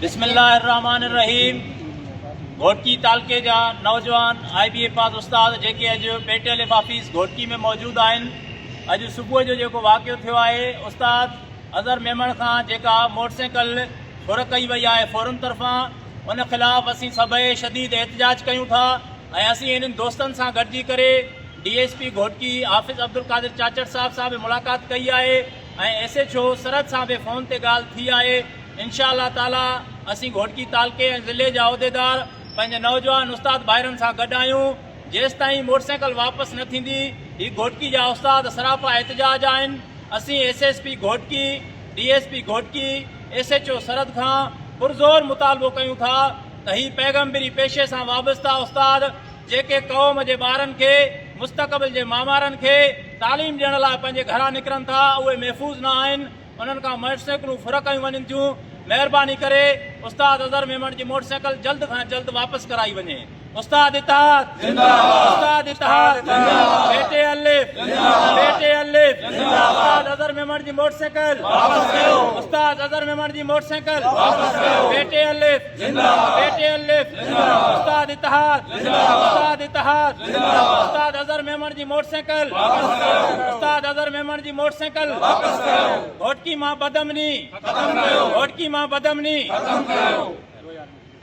بسم الله الرحمن الرحيم گهوٽڪي تعلقي جا نوجوان آئي بي اي پاس استاد جيڪي اڄ P T L F office Ghotki ۾ موجود آهن اڄ صبح جو جيڪو واقعو ٿيو آهي استاد اظهر ميمڻ کان جيڪا موٽر سائيڪل ڦر ڪئي وئي آهي فورم طرفان ان خلاف اسين سڀئي شديد احتجاج ڪيون ٿا ۽ اسين انهن دوستن سان گڏجي ڪري D S P Ghotki Hafiz Abdulqadir Chachar صاحب سان به ملاقات ڪئي آهي ۽ ايس ايڇ او سرحد سان به فون تي ڳالهه ٿي آهي انشاء الله تعالي اسين گهوٽڪي تعلقي ۽ ضلعي جا عهديدار پنهنجي نوجوان استاد ڀائرن سان گڏ آهيون جيستائين موٽرسائيڪل واپس نه ٿيندي هي گهوٽڪي جا استاد سراپا احتجاج آهن اسين S S P Ghotki D S P Ghotki S H O Sarhad کان پرزور مطالبو ڪيون ٿا ته هي پيغمبري پيشي سان وابسته استاد جيڪي قوم جي ٻارن کي، مستقبل جي معمارن کي، تعليم ڏيڻ لاء پنهنجي گهران نڪرن ٿا، اهي محفوظ نه آهن، انهن کان موٽر سائيڪلون ڦر ڪيون وڃن ٿيون، مهرباني ڪري استاد اظهر ميمڻ جي موٽر سائيڪل جلد کان جلد واپس ڪرائي وڃي. استاد اتحاد زنده باد استاد اتحاد زنده باد بيٽي الف زنده باد بيٽي الف زنده باد استاد اظهر ميمڻ جي موٽر سائيڪل واپس ڪيو استاد اظهر ميمڻ جي موٽر سائيڪل واپس ڪيو بيٽي الف زنده آباد اي ٽي الف زنده آباد استاد اتحاد زنده آباد استاد اتحاد زنده آباد استاد اظهر ميمڻ جي موٽر سائيڪل واپس ڪريو استاد اظهر ميمڻ جي موٽر سائيڪل واپس ڪريو گهوٽڪي مان بدامني ختم ڪريو گهوٽڪي مان بدامني ختم ڪريو